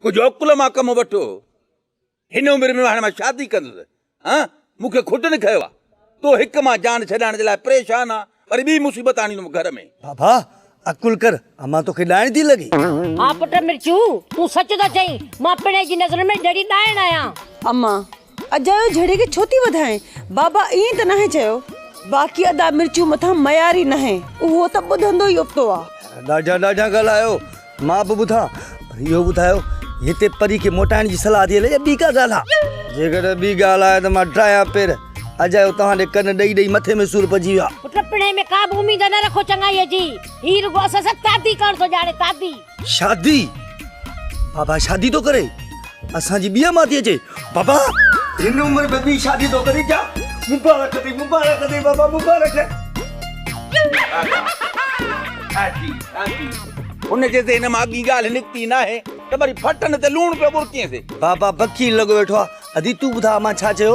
ڪجهه عقل مان ڪم وٺو. هن عمر ۾ هاڻي مان شادي ڪندس. ها مون کي کٽن کنيو آ. تو هڪ مان جان ڇڏائڻ جي لاء پريشان آ وري ٻي مصيبت آڻيندم گهر ۾. بابا عقل ڪر امان توکي ڏائڻ ٿي لڳي. ها پٽ مرچو تون سچ ٿو چئين مان پڻهي جي نظرن ۾ ڏڙي ڏائڻ آهيان. امان اجايو جھڙي کي ڇو ٿي وڌائين. بابا ائين ته ناهي چيو. باقي ادا مرچون مٿان معيار ئي ناهي اهو ته ٻڌندو ئي ابتو آ. ڏاڍا ڏاڍا ڳالهايو مان به ٻڌان پر اهو ٻڌايو هتي پري کي موٽائڻ جي صلاح ٿي هلي يا ٻي ڪا ڳالهه آ. جيڪڏهن ٻي ڳالهه آهي ته مان ڊاهيان پير. اجايو توهان ڏي ڪن ڏئي ڏئي مٿي ۾ سور پئجي ويو آ. پٽ پڻهي ۾ ڪابه اميد نه رکو چڱائيء جي. هي رڳو اسان سان تادي ڪرڻ ٿو ڄاڻي تادي. شادي بابا شادي ٿو ڪري اسان جي ٻيا ماتي اچي بابا هن عمر ۾ ٻي شادي ٿو ڪري جا مبارڪ اٿئي مبارڪ اٿئي بابا مبارڪ ان جي ذهن مان اڳي ڳالهه نڪتي ناهي ته وري ڦٽن تي لوڻ پيو ٻرڪينسي بابا بکي لڳو ويٺو آ ادي تون ٻڌا مان ڇا چيو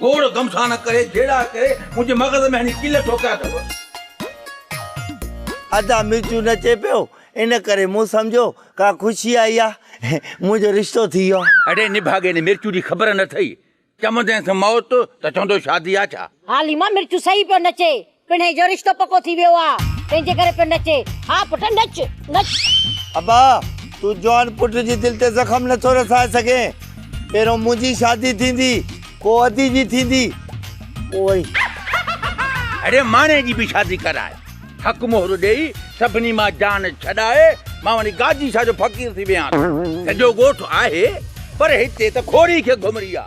گوڙ گمسان ڪري جهيڙا ڪري منهنجي مغز ۾ هڻي ڪيل ٺوڪيا اٿو. ادا مرچون نه چيپيو ان ڪري مون سمجهيو ڪا خوشي آئي آ منهنجو رشتو ٿي ويو آ. اڙي نڀاڳي ني مرچون جي خبر نه اٿئي چوندينس موت ته چوندو شادي آ ڇا. حاليما مرچون صحيح پيو نچي پڻهين جو رشتو پڪو ٿي ويو آ تنهنجي ڪري پيو نچي ها پٽ نچ نچ. ابا تون جوان پٽ جي دل تي زخم نٿو رسائي سگهين پهريون منهنجي شادي ٿيندي پوء ادي جي ٿيندي پوء وري. اڙي ماڻهي جي به شادي ڪرائي حق مهر ڏيئي سڀني مان جان ڇڏائي مان وڃي گاجي شاهه جو فقير ٿي ويهان ٿو. سڄو ڳوٺ آهي پر هتي ته کوڙي کي گهمري آ.